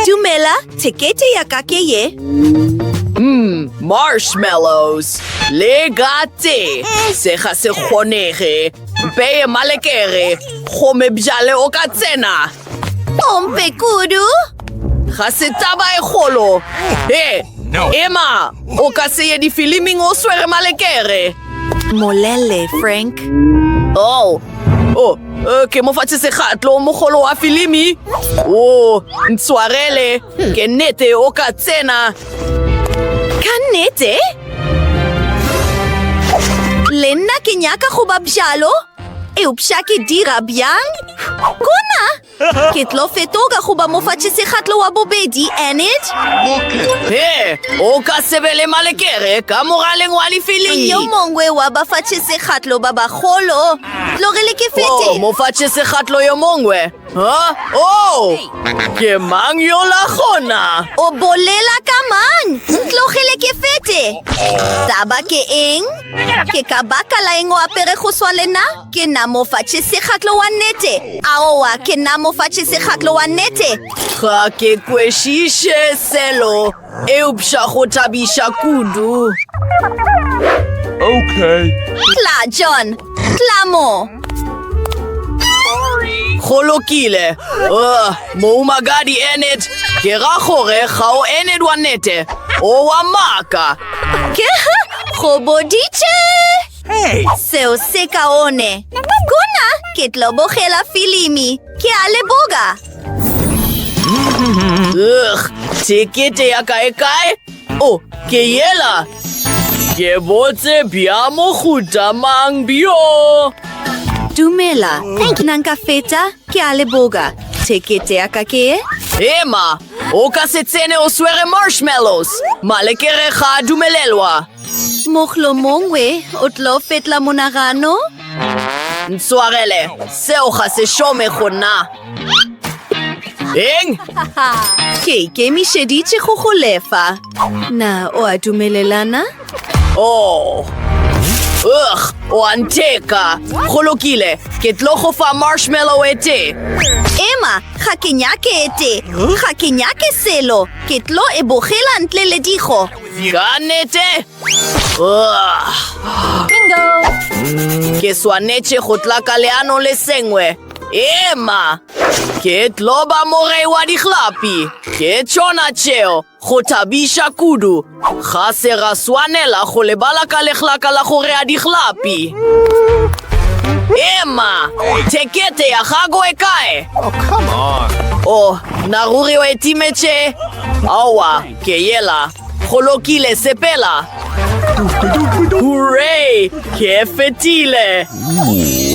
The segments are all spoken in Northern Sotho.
Dumela, thekete ya ka ke ye. Mmm, marshmallows. Le gate. Se ga se kgonege. Mpeye malekere. Gome bjale o ka tsena. Pompe kudu. Ga se taba e golo. He, ema. O ka se ye difiliming o swere malekere. Molele, Frank. Oh, oh, uh, ke mo fatshe segatlo mogolo wa filimi. Oh, ntshwarele, ke nnete o ka tsena. Ka nnete? Le nna ke nyaka go ba bjalo. Eupša ke dira bjang? Kuna! Ke tlo fetoka go ba mofatšisekgatlo wa bobedi, Enid. He, o ka se be le malekere ka moraleng wa lefilimi. Yo mongwe wa bafatšisekgatlo ba bagolo. Tlogele ke fete. Oh, mofatšisekgatlo yo mongwe. Huh? Oh, ke mang yo la gona? O bolela ka mang? Tlogele ke fete. Taba ke eng? Ke ka baka la eng o apere go swa le nna? Ke nna mo fa tšhesekgatlo wa nnete. Aowa, ke nna mo fa tšhesekgatlo wa nnete. Ga ke kwešiše selo, eupša go thabiša kudu. Okay. Tla, John. Tla mo. Go lokile. Uh, moumagadi Enid, ke ra gore ga o Enid wa nnete. O wa maaka. Ke go boditše. Hey! Seo se kaone. Kuna ke tlo bogela filimi. Ke a leboga. Ugh, tekete ya kae kae? Oh, ke yela. Ke botse bja mohuta mang bjo? Dumela. Thank you. Nanka feta, ke a leboga. Tekete ya ka ke e? Ema, o ka se tsene o swere marshmallows. Malekere ga a dumelelwa. Mohlomongwe o tlo fetla monagano? Ntswagele, seo ga se šome go nna. Eng? Ke ikemišeditše go go lefa. Na o a dumelelana? Oh. Ugh, o a ntheka. Go lokile, ke tlo go fa marshmallow e tee. Emma, ga ke nyake e tee. Ga ke nyake selo. Ke tlo e bogela ntle le digo. Ka nete! Bingo! Ke swanetše go tla ka leano le sengwe. Ema! Ke tlo ba morei wa dihlapi. Ke tšona tšeo, go thabiša kudu. Ga se ra swanela go lebala ka lehlaka la go rea dihlapi. Ema! Thekete ya gago e kae? Oh, come on! Oh, na ruri o e timetše? Aowa, Ke yela, go lokile, sepela. Hooray! Ke fetile!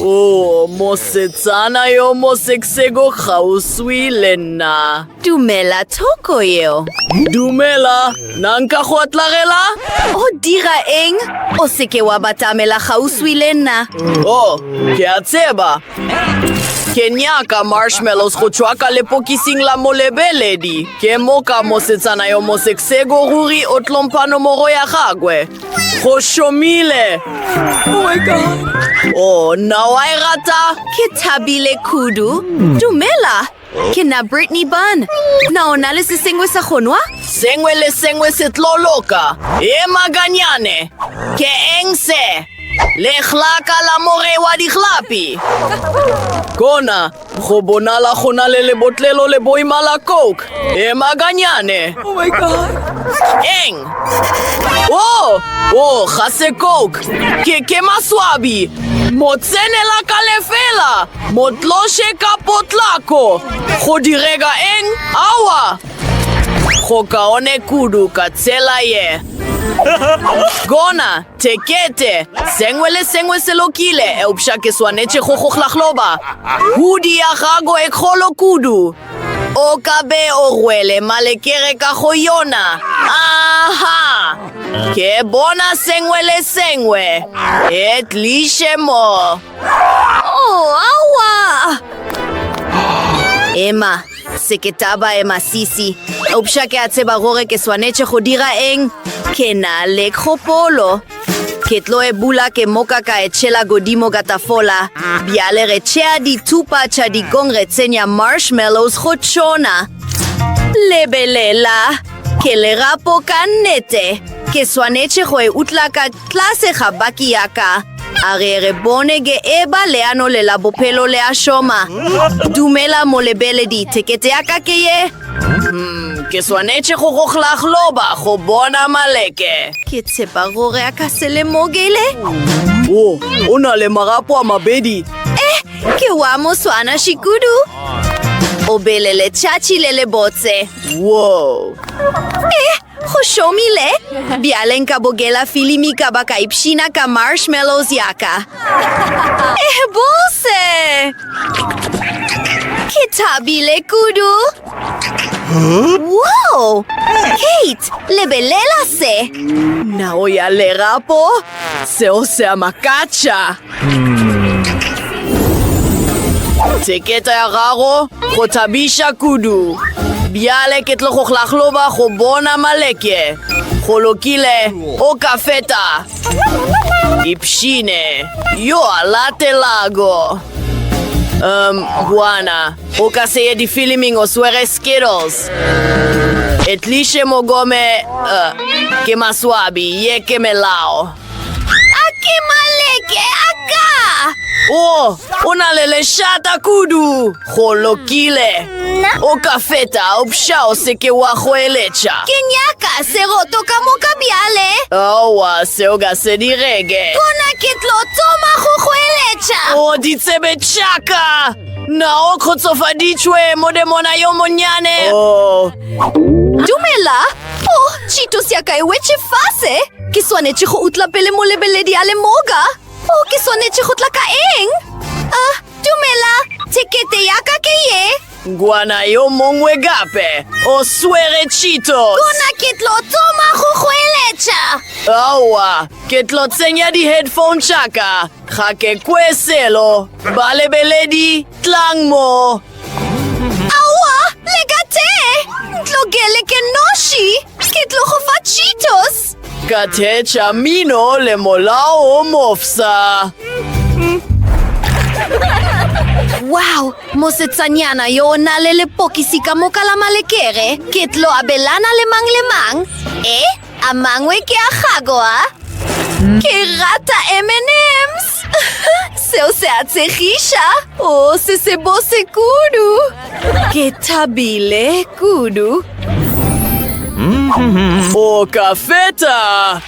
Oh, mosetsana yo moseksego kgauswi le nna. Dumela thoko yeo. Dumela, na nka go atlagela? O dira eng? O seke wa batamela kgauswi le nna. Oh, ke a tseba. Ke nyaka marshmallows go tšwa ka lepokising la molebeledi. Ke moka mosetsana yo mosekseko ruri o tlompano mogo ya gagwe. Go šomile! Oh my god! Oh, nna wa e rata? Ke thabile kudu. Dumela! Ke nna Brittany Bun. Na o na le se sengwe sa go nwa? Sengwe le sengwe se tlo loka. E maganyane. Ke eng se? Lehlaka la moge wa dihlapi. Kona, go bonala go na le lebotlelo le boima la Coke. E maganyane. Oh my God. Eng? Oh, oh, ga se Coke. Ke, ke maswabi. Mo tsenela ka lefela. Motloše ka potlako! Go direga eng? Awa! Go kaone kudu ka tsela ye. Gona, tekete, sengwe le sengwe se lokile, eupša ke swanetše go go hlahloba. Hudi ya gago e kgolo kudu. O ka be o rwele malekere ka go yona. Aha! Ke bona sengwe le sengwe. E tliše mo. Oh, awa! Ema, seketaba ema sisi. Upša ke a tseba gore ke swanetše go dira eng. Ke na le kgopolo. Ke tlo e bula ke moka ka e tšhela godimo ka tafola. Bjale re tšea dithupa tša dikong re tsenya marshmallows go tšona. Lebelela, ke lerapo ka nnete. Ke swanetše go e utla ka Tlase ga baki ya ka, a re re bone ge e ba leano le la bophelo le a šoma. Dumela molebeledi, thekete ya ka ke ye. Umm, ke swanetše go go hlahloba go bona maleke. Ke tshepa gore a ka se lemogele. Wo, o na le marapo a mabedi. Eh, ke wa moswanaši kudu. O bele letšatši le lebotse. Wo! Eh, Go šomile, bjale nka bogela filimi ka ba ka ipshina ka marshmallows ya ka. Eh, bose! Ke thabile kudu. Wow! Kate, lebelela se! Nao ya lerapo, seo se a makatša. Theketa ya gago go thabiša kudu. Bjale ke tlo go hlahloba go bona maleke. Go lokile, o ka feta. Ipshine yo a latelago. Um, bwana, o ka se ye difiliming o swere Skittles. Etliše mogome, uh, ke maswabi, ye ke melao. A ke maleke a ka! O, o na le lešata kudu. Go lokile. Nna? O ka feta, opša o se ke wa goeletša. Ke nyaka seroto ka moka bjale. Aowa, seo ga se direge. Gona ke tlo thoma go goeletša. O ditsebe tša ka! Na o kgotsofaditšwe, modemona yo monnyane? O, Dumela! Oh, tšhito ya ka e wetše fase! Ke swanetše go utla pele molebeledi a le moka. O ke swanetše go tla ka eng? A, dumela, thekete ya ka ke ye. Ngwana yo mongwe gape o swere Cheetos. Gona ke tlo thoma go goeletša. Aowa, ke tlo tsenya di-headphone tša ka. Ga ke kwe selo. Balebeledi, tlang mo. Aowa, le ka te! Ntlogele ke noši! Ke tlo go fa Cheetos! Ka theetša mino le molao o mofsa. Wow, mosetsanyana yo o na le lepokisi ka moka la malekere. Ke tlo abelana le mang le mang. Eh? A mangwe ke a gago a? Ke rata M&M's. Seo se a tshegiša. O se se bose kudu. Ke thabile kudu. O ka feta.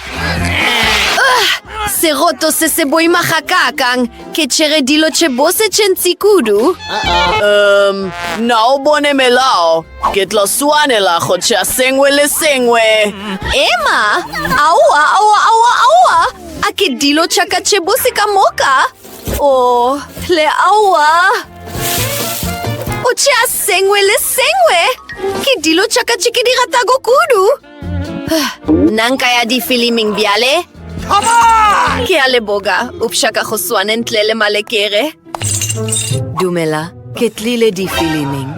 Seroto se se boima ga kakang. Ke tšhere dilo tše bose tše ntsi kudu. Um, na o bone melao? Ke tlo swanela go tšea sengwe le sengwe. Emma, aowa, aowa, aowa, aowa. A ke dilo tša ka tše bose ka moka? O, le aowa. O tšea sengwe le sengwe. Ke dilo tša ka tše ke di ratago kudu. Nanka ya difiliming bjale? Ke a leboga, upša ka go swane ntle le malekere. Dumela, ke tlile difiliming.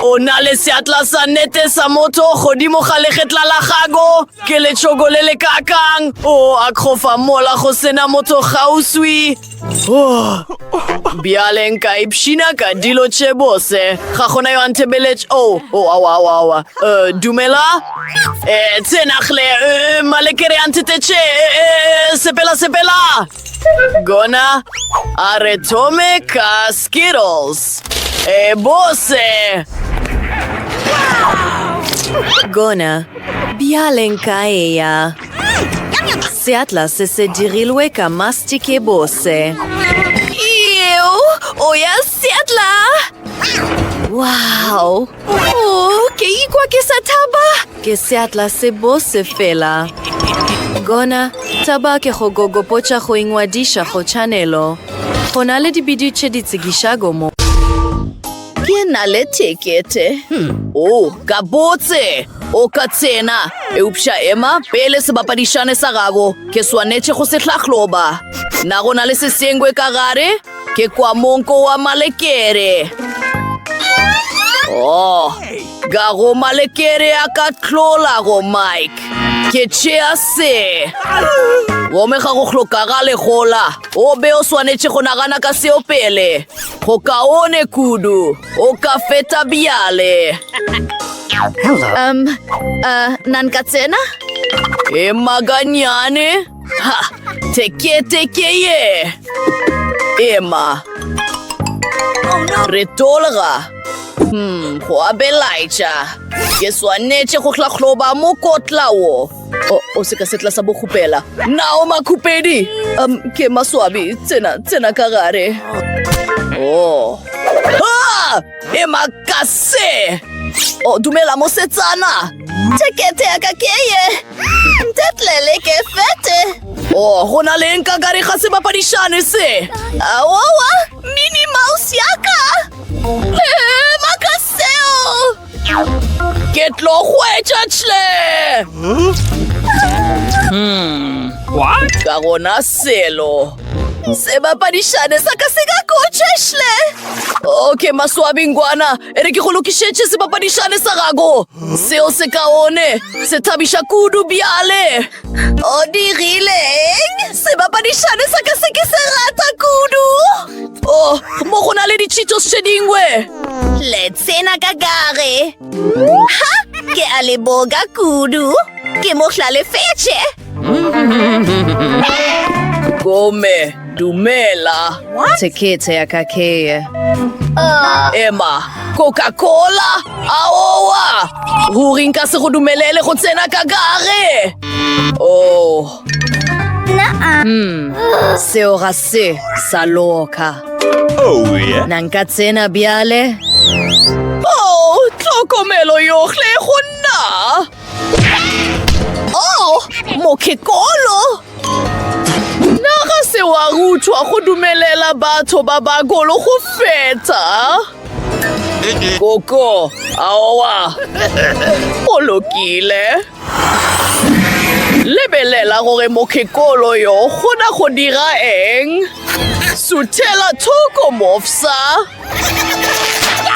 O na le seatla sa nete sa motho godimo ga legetla la gago. Ke letšhoko le le kakang. O a kgofa mola go sena motho gauswi. Oh. Bjale nka ipshina ka dilo tše bose. Ga gona yo a nthebeletše. O, oh, o, oh, awa, awa, awa. Uh, dumela? Eh, tsenagle, uh, eh, malekere a nthetetše. Uh, eh, sepela, sepela. Gona a re thome ka Skittles. E bose! Gona, bjale nka eya. Seatla se se dirilwe ka mastic e bose. Eo, o ya Seatla! Wow! Oh, ke ikwa ke sa thaba ke seatla se bose fela gona thaba ke go gogopotša go ingwadiša go chanelo go na le dibidi tše di tsekišago mo ke na le tekete hmm. o oh, ka botse o ka tsena eupša ema pele sebapadišane sa gago ke swanetše go se hlahloba na go na le sesengwe ka gare Ke kwa monko wa malekere. Oh, ga go malekere a ka tlola go Mike. Ke tšea se. Gomme ga go hlokagale gola. O be o swanetše go nagana ka seo pele. Go kaone kudu. O ka feta bjale. Um, uh, nan ka tsena? E maganyane? Ha! Teke, teke, ye! Ema! Re tolga! Hmm, go a belaetša! Ke swanetše go hlahloba mokotla wo! O, o se ka setla sa bokgopela! Nao makhupedi! Um, ke maswabi, tsena, tsena ka gare! Oh! Ah! e makase o dumela mosetsana tekete ya ka ke ye ntetlele ke fete o oh, go na leng ka kare ga sebapadišane se aowa mini mouse ya ka makaseo ke tlo hwetša tle hmm. ka gona selo sebapadišane sa ka se ka kotšešle okay maswabingwana e re ke go lokišetše sebapadišane sa gago seo se kaone se thabiša kudu bjale o dirileng sebapadišane sa ka se ke se rata kudu o oh, mo go na le ditšhitšo se dingwe le tsena ka gare ha ke a leboka kudu ke mo hlalefetše Gome, dumela. What? Tekete ya ka keye. Uh. Emma, Coca-Cola? Aowa! Ruri nka se go dumelele go tsena ka gare. Oh. Naa. Hmm. Seo ga se sa loka. Oh, yeah. Na nka tsena bjale? Oh, tlhokomelo yohle go nna. Oh, mokekolo! Na ga se wa ruthwa go dumelela batho ba bagolo go feta? Koko, aowa. O lokile. Lebelela gore mokekolo yo gona go dira eng. Suthela thoko mofsa.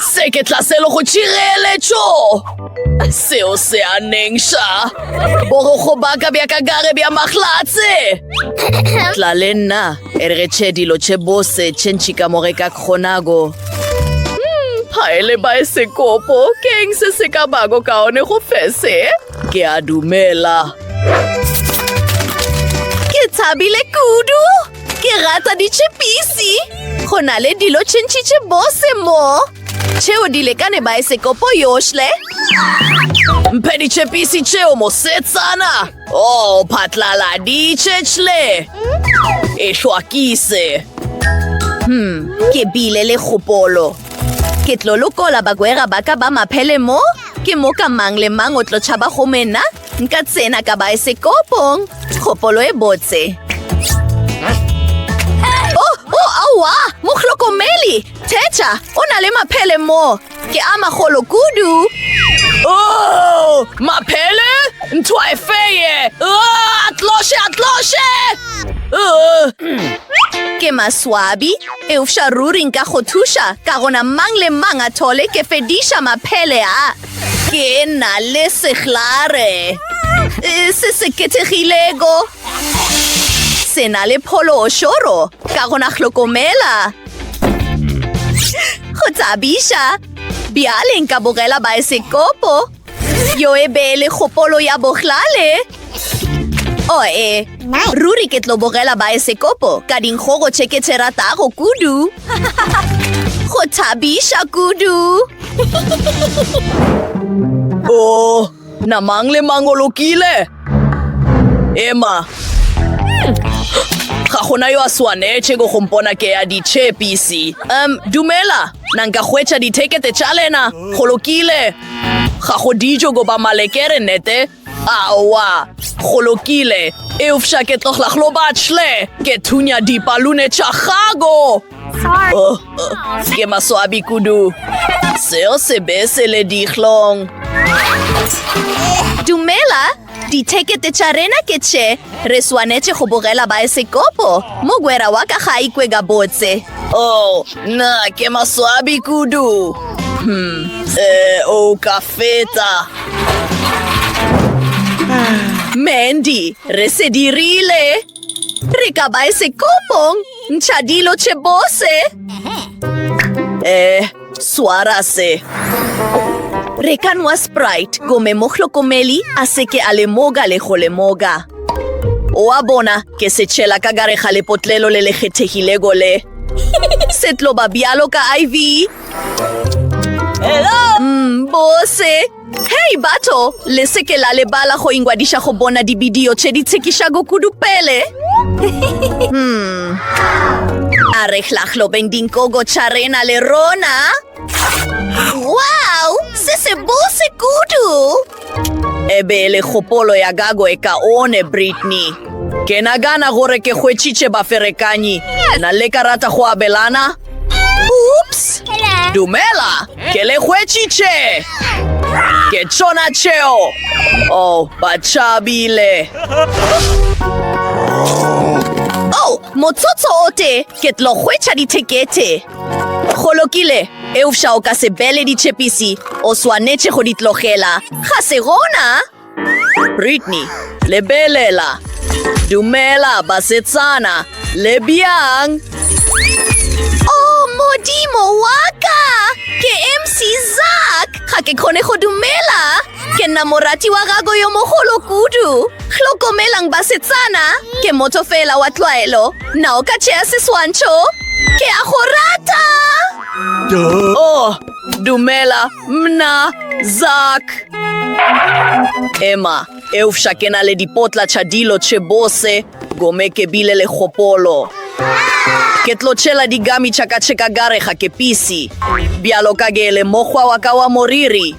Se ke tlaselo go tšireletšo. Seo se a nengša. Borogo baka bja ka gare bja mahlatse. Tla le nna, e re tšhe dilo tše bose, tše ntši ka mo re ka kgonago. Haele ba e sekopo, ke eng se se ka bako ka one go fese? Ke a dumela. Ke tshabile kudu. Ke rata ditšhipisi go na le dilo tšhintšhitše bose mo tšheo di lekane baesekopo yohle mphe ditšhepisi tšeo mosetsana o oh, phatlaladitše tšhle e hlwakise hmm ke bile le kgopolo ke tlo lokola bagwera ba ka ba maphele mo ke moka mang le mang o tlo tšhaba go mena Nka tsena ka baesekopong. Kgopolo e botse. Oh, oh, aowa! Mohlokomeli! Thetša, o na le maphele mo. Ke a magolo kudu. Oh, maphele? Ntho e feye! Oh, atloshe, atloshe! Oh. Ke maswabi, eufša ruri nka go thuša, ka gona mang le mang a thole ke fediša maphele a. Ke na le sehlare e, se se kethegilego. Se na le phološoro ka gona hlokomela. Go thabiša, bjale nka bogela baesekopo. Yo e be le kgopolo ya bohlale. Oe, ruri ke tlo bogela baesekopo ka dinkgogo tše ke tše ratago kudu. Go thabiša kudu. O, oh, na mang le mang o lokile? Emma, ga gona yo a swanetše go gompona ke ya ditšhepisi. Um, dumela, na nka hwetša dithekete tša lena? Go lokile. Ga go dijo goba malekere, nete? Aowa, go lokile. Eupša ke tlogla go batle. Ke thunya dipalune tša gago. Oh, oh, ke maswabi kudu. Seo se be se le dihlong. Dumela, dithekete tša rena ke tše. Re swanetše go bogela baesekopo. Mogwera wa ka ga a ikwe gabotse. Oh, Na ke maswabi kudu. Hmm. Eh, o ka feta. Mandy, re se dirile. Re ka ba e sekopong. Ntsha dilo tše bose. Eh, swara se. Re ka nwa Sprite gomme mohlokomeli a se ke a lemoga le go lemoga. Oa bona, ke se tšhela ka gare ga lepotlelo le le kgethegilego le. Se tlo ba bjalo ka iv Hello? Mm, bose. Hei, batho, le seke la lebala go ingwadiša go bona dibidio tše di tshekišago kudu pele. hmm. A re hlahlobeng dinkogo tša rena le rona. Wow, se se bose kudu! E be e le kgopolo ya gago e kaone, Brittany. Ke nagana gore ke hwetšitše baferekanyi. Na le ka rata go abelana? Oops! Dumela, ke le hwetšitše! Ke tšona tšeo! Oh, ba tšabile! Oh, motsotso o tee, ke tlo hwetša dithekete. Go lokile, eupša o ka se bele ditšhepisi, o swanetše go di tlogela. Ga se gona? Britney, lebelela. Dumela, basetsana. Le bjang? Oh, modimo wa ka! Ke MC Zak! Ga ke kgone go dumela! Ke nna morati wa gago yo mogolo kudu. Hlokomelang basetsana, ke motho fela wa tlwaelo. Na o ka tšea seswantšho? Ke a go rata! Oh, dumela, mna, Zak. Emma, eufša ke na le dipotla tša dilo tše bose, gome ke bile le kgopolo. Ke tlo tšhela digami tša ka tše ka gare ga kepisi. Bjalo ka ke le mokgwa wa ka wa moriri,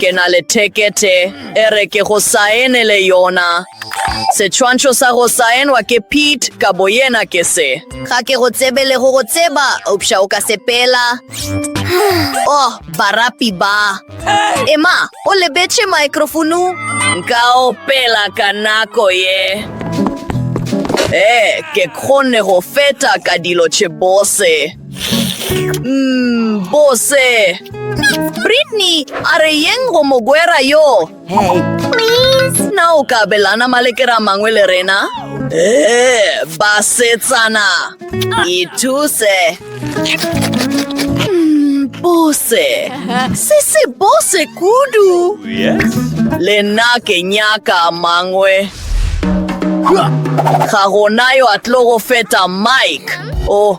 Ke na le thekete e re ke go saenele yona. Setswantšho sa go saenwa ke Pete ka boyena ke se. Ga ke go tsebe le go go tseba, eupša o ka sepela. Oh, barapi ba. Ema, o lebetše maekrofonu. Nka opela ka nako ye. Ee, ke kgonne go feta ka dilo tše bose. Mm, bose. Britney, a re yeng go mogwera yo? Hey. Please. Na o ka belana malekera mangwe le rena? Ee, basetsana. Ithuse. Mm, bose. Se se bose kudu. Yes. Le nna ke nyaka mangwe. Ga gona yo a tlo go feta Mike. Oh,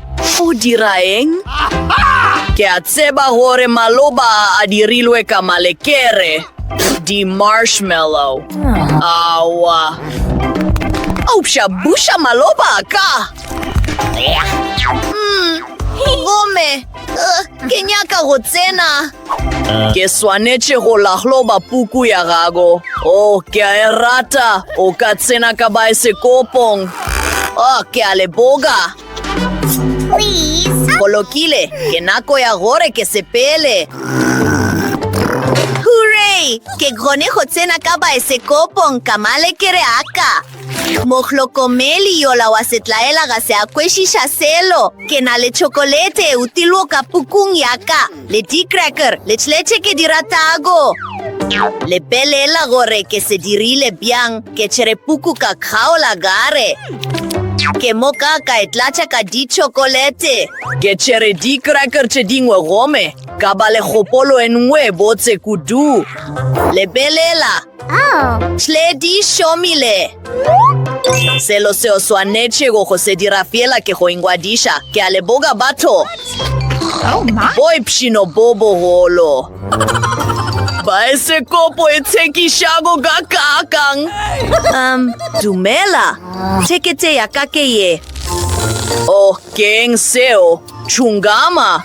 O dira eng? Ke a tseba gore maloba a dirilwe ka malekere, di-marshmallow. Aowa. Eupša buša maloba a ka. Mm, gomme uh, ke nyaka go tsena. Ke swanetše go lahloba puku ya gago. O, oh, ke a e rata. O ka tsena ka baesekopong. O, oh, ke a leboga. Go lokile, ke nako ya gore ke sepele. Hooray! Ke kgone go tsena ka baesekopong ka malekere aka. Mohlokomeli yola wa setlaela ga se a kwešiša selo. Ke na le tšhokolete e utilwo ka pukung yaka. Le di cracker le tšhletše ke di ratago. Lebelela gore ke se dirile bjang, ke tšere puku ka kgaola gare. Ke mo ka ka e tlatša ka ditšhokolete. Ke tšere di cracker tše dingwe gome ka ba le kgopolo e nngwe e botse kudu. Lebelela! Tledi šomile. Selo seo swanetšego go se dira fela ke go ingwadiša. Ke a leboga batho. Oh, Boi pšhino bo bogolo. Baesekopo e tshekišago ka kakang. Um, dumela. Thekete ya ka ke ye. Oh, keng seo? Tšhungama?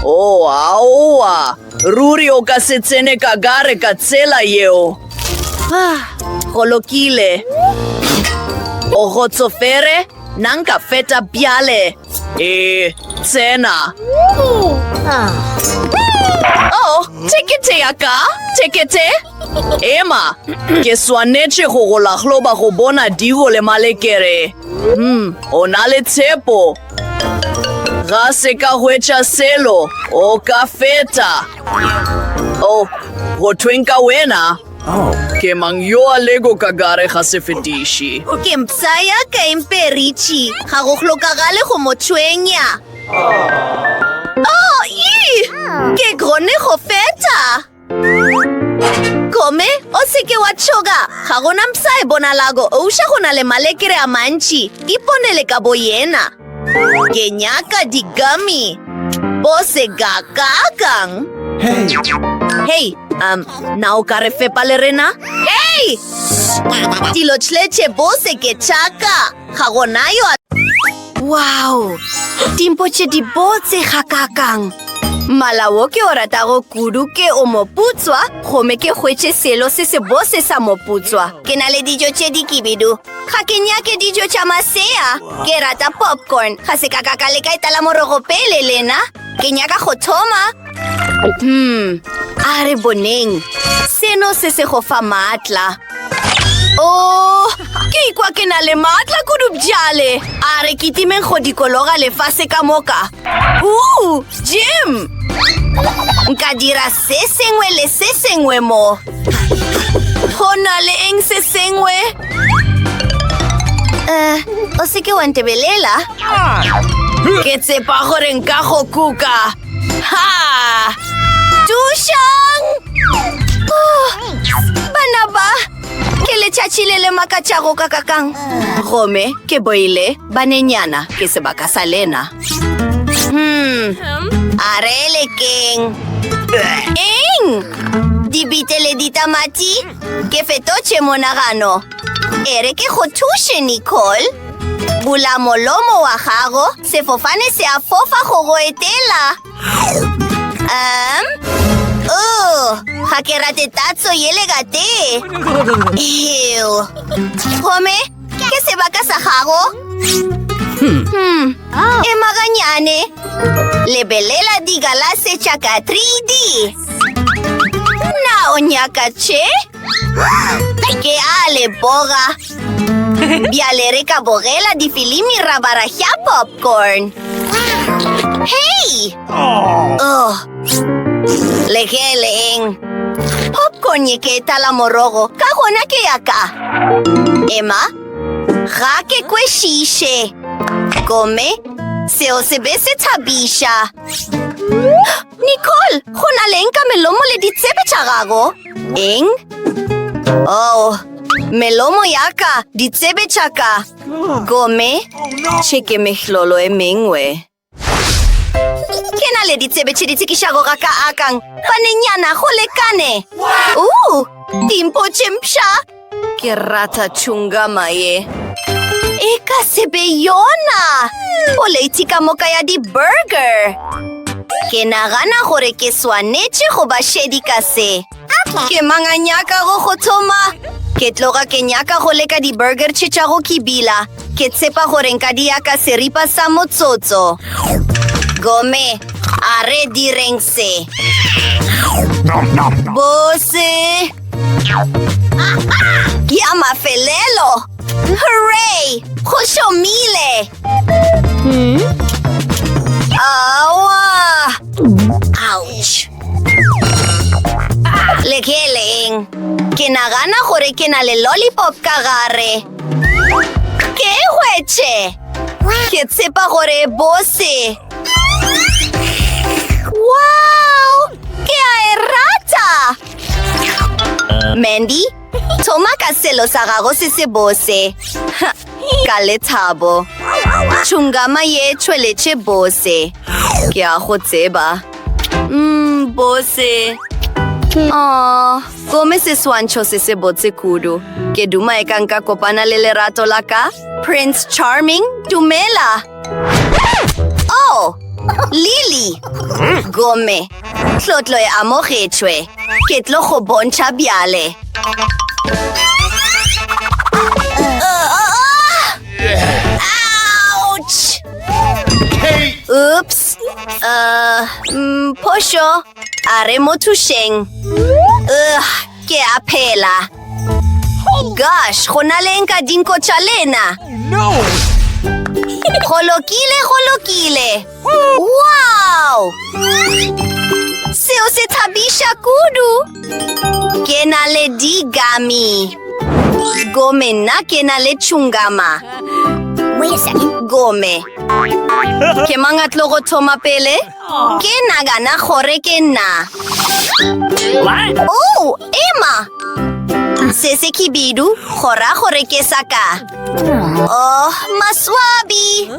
Oh, aowa. Ruri o ka se tsene ka gare ka tsela yeo. Ah, go lokile. O gotsofere, na nka feta bjale? Ee, tsena. Oh, tekete ya ka, tekete. Ema, ke swanetše go go lahloba go bona digo le malekere. Hmm, o na le tshepo. Ga se ka hwetša selo, o ka feta. O, go thweng ka wena? Oh. Ke mang yo a lego ka gare ga sefetiši? Ke mpsa ya ka imperitši, ga go hlokagale go mo tshwenya. Oh, ii! Ke gone go feta. Kome, o seke wa tšhoga. Ga gona mpsa e bonalago. Ouša go na le malekere a mantši. Iponele ka bo yena. Ke nyaka digami. Bo se kakakang. Hey. Hey, um, na o ka re fepa le rena? Hey! Dilo tšhletše bo se ke tšhaka. Ga gona yo a... Wow! Dimpo tše di botse ga kakang. Mmala wo ke o ratago kudu ke o moputswa gomme ke hwetše selo se se bose sa moputswa ke na le dijo tše di kibidu ga ke nyake dijo tša masea ke rata popcorn ga se ka ka ka leka etala morogo pele lena ke nyaka go thoma Hmm, a re boneng. Seno se se go fa maatla. Oh, ke ikwa ke na le maatla kudu bjale. A re ke timeng go dikologa lefase ka moka. Uh, Jim! Nka dira se sengwe le se sengwe mo. Go na le eng se sengwe? Eh, o se ke wa ntebelela? Ke tsepa gore nka go kuka. Ha! Tušang! Oh, bana ba, ke letšatši le le makatšago ka kakang. Gome, ke boile, banenyana, ke sebaka sa lena. Hmm, a re le keng? Eng? Dibite le ditamati? Ke fetotše monagano. E re ke go thuše, Nicole. Bula molomo wa gago Sefofane se a fofa go go etela. Um, oh, ga ke rate tatso yele ka tee. Ew. Gomme, ke sebaka sa gago. Hmm. hmm. Oh. E maganyane. Lebelela digalase tša ka 3D. Na o nyaka tše? Ke a le boga. Bjale re ka bogela difilimi ra bara ya popcorn. Hei! Oh. Le ge le eng? Popcorn ye ke etala morogo, ka gona ke ya ka. Emma, ga ke kwešiše. Gomme, seo se be se thabiša. Nicole, go na leng ka melomo le ditsebe tša gago? Eng? Oh, melomo ya ka, ditsebe tša ka. Gomme, tše ke mehlolo e mengwe. Ke na le ditsebe tše di tshekišago ga ka akang. Banenyana, go lekane. Uu, dimpo tše mpsha. Ke rata chungama ye. E ka se be yona! O leiti ka moka ya di-burger! Ke nagana gore ke swanetše go ba šedi ka se. Ke manganyaka go go thoma. Ke tloga ke nyaka go leka di-burger tše tša go kibila. Ke tshepa gore nka di yaka seripa sa motsotso. Gome, a re direng se. Bose! Ya mafelelo! Hooray! Go šomile! Awa! Ouch! Le ke leng? Ke nagana gore ke na le lollipop ka gare. Ke e hwetše! Ke tshepa gore bose. Wow! Ke a e rata! Mandy, thoma ka selo sa gago se se bose. Ka lethabo. Tšhungama ye tšhweletše bose. Ke a go tseba. Mm, bose. Aww. Gomme seswantšho se se botse kudu. Ke duma e ka nka kopana le lerato la ka? Prince Charming, dumela! Oh! Lily! Gomme, tlotlo e amogetšwe. Ke tlo go bontšha bjale. Ouch! Oops! Uh, mm, phošo. A re mo thušeng. Ugh, ke a phela. Gosh, go na le nka dinko tša lena. Go lokile, go lokile. Wow! Seo se thabiša kudu. Ke na le digami. Gome nna ke na le chungama. Gome. Ke mang a tlo go thoma pele? Ke nagana gore ke nna. Oh, Emma! Se se khibidu, go ra gore ke sa ka. Oh, maswabi!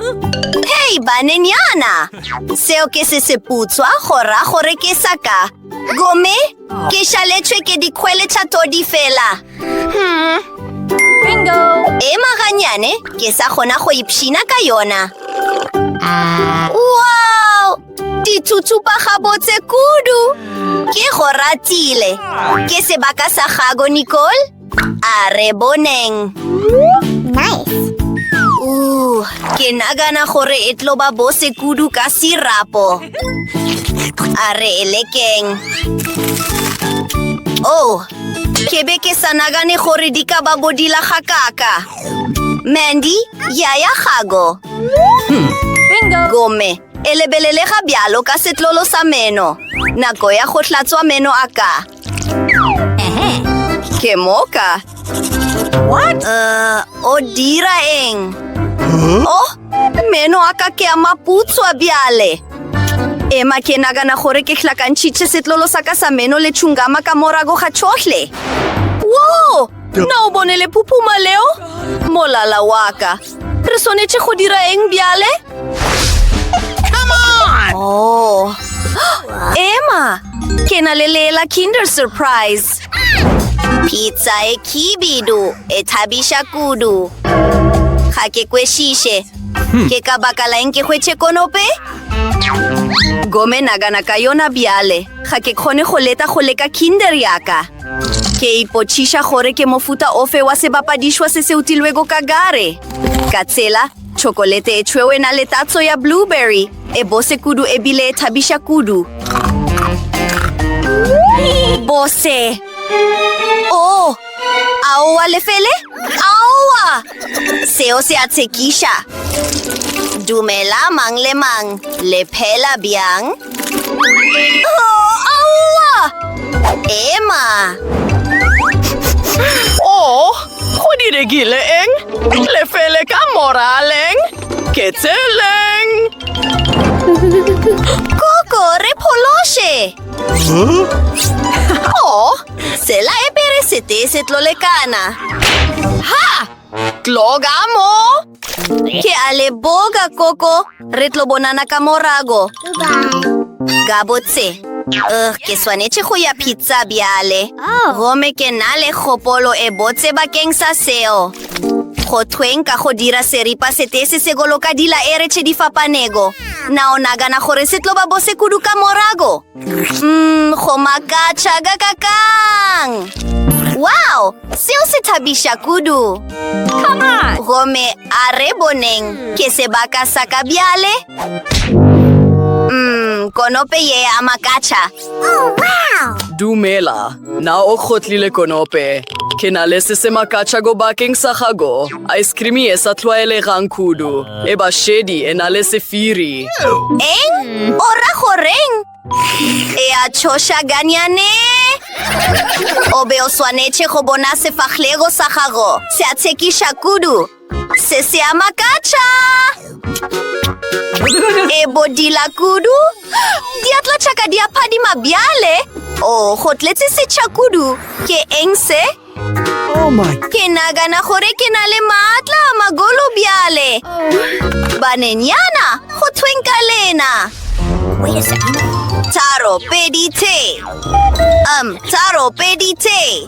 Hei, banenyana! Seo ke se seputswa, go ra gore ke sa ka. Gomme Ke šaletšwe ke dikgwele tša todi fela. Bingo! Ema ganyane, ke sa kgona go ipshina ka yona. Wow! Ditsutsupa gabotse kudu! Ke go ratile. Ke sebaka sa gago, Nicole? A re boneng. Nice. Ooh, ke nagana gore e tlo ba bose kudu ka sirapo. A re e lekeng. Oh, ke be ke sa nagane gore di ka ba bodila ga kaka. Mandy, yaya gago. Hmm. Bingo. Gome, e lebelele ga bjalo ka setlolo sa meno. Nako ya go hlatswa meno a ka. Ke moka. What? Uh, o dira eng? Oh, meno a ka ke a maputswa bjale. Ema ke nagana gore ke hlakantšhitše setlolo sa ka sa meno le tšhungama ka morago ga tšhohle. Wo! Na o bone le phuphuma leo? Molala wa ka. Re swanetše go dira eng bjale? Come on! Oh. Emma, ke na le lela Kinder Surprise. Pizza e kibidu, e thabisha kudu. Ga ke kwešishe. Hmm. Ke ka baka la eng ke hwetše konope? Gome nagana ka yona bjale. Ga ke kgone go leta go leka Kinder yaka. Ke ipotšiša gore ke mofuta ofe wa sebapadišwa se se utilwego ka gare. Ka tsela, tšhokolete e tšhweu e na le tatso ya blueberry, e bose kudu e bile e thabiša kudu. Bose! Oh! Aowa, lefele! Aowa! Seo se a tshekiša. Dumela mang le mang, le phela bjang? Oh, aowa! Ema! Oh, go diregile eng? Lefele ka moraleng? Ke tseleng! Koko, re phološe! Huh? Oh, Sela e pere se tee se tlo lekana. Ha! Tloga mo! Ke a le boga, Koko. Re tlo bonana ka morago. Gabotse. Uh, ke swanetše go ya pizza bjale. Oh. Gome ke na le kgopolo e botse bakeng sa seo. Go thweng ka go dira seripa sete se se goloka dila e retšhe di fapanego. Na o nagana gore se tlo ba bose kudu ka morago? Mm, go makatšha ka kakang wow seo se thabiša kudu gomme a re boneng ke sebaka sa ka bjale mm, konope ye ya makatšha oh, wow. dumela Na o kgotlile konope? Ke na le se se makatša go bakeng sa gago. Ice cream e sa tlwaelegang kudu. E ba shedi e na le sefiri. Eng? O ra goreng? E a tšhoša ganyane? O be o swanetše go bona sefahlego sa gago. Se a tshekiša kudu. Se se a makatša! E bodila kudu! Diatla tšaka di a phadima bjale! O, oh, go tletse setšha kudu! Ke eng se? Oh ke nagana gore ke na le maatla a magolo bjale! Banenyana, go thweng ka lena! Taro, pedi, te! Um, taro, pedi, te!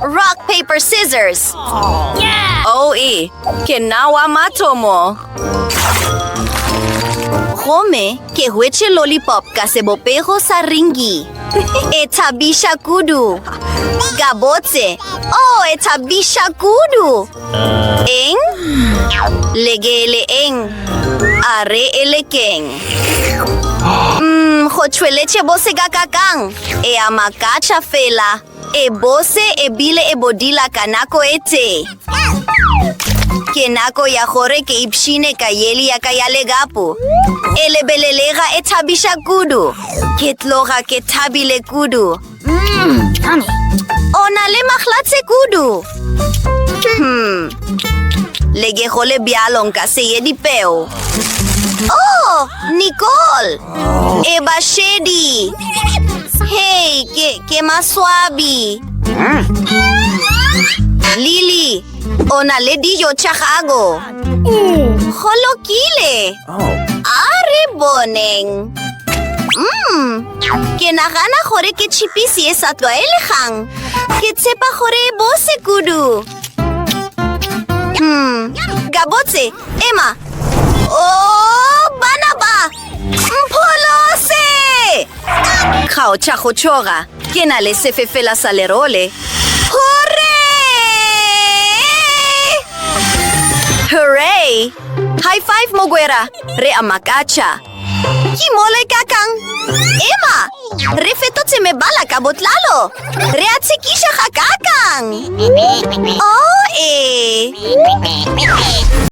Rock, paper, scissors. Oh, yeah. oh e, ke nna wa mathomo. Gomme ke hwetše lollipop ka sebopego sa ringi. e thabiša kudu. Ka botse, oh, e thabiša kudu. Eng? Legele eng? A re e lekeng. Mm, go tšhweletše bo sekakakang. E a makatša fela. E bose e bile e bodila ka nako e tee. Ke nako ya gore ke ipshine ka yeli ya ka ya legapo. E lebelelega e thabiša kudu. Ke tloga ke thabile kudu. Mm, o na le mahlatse kudu. Hmm. Le ke go le bjalo nka se ye dipeo. Oh, Nicole! e ba shedi hei ke, ke maswabi lily o na le dijo tša gago go lokile a re boneng mm, ke nagana gore ke chipisi e sa tlwaelegang ke tshepa gore e bose kudu mm, gabotse Ema! O, bana ba! Mpholose! Kgaotša go tšhoga, ke na le sefefela sa lerole. Hore! Hooray! High five, Mogwera! Re a makatša! Ke mole ka kang? Ema! Re fetotse mebala ka botlalo! Re a tshekiša ga ka kang! Oh, ee!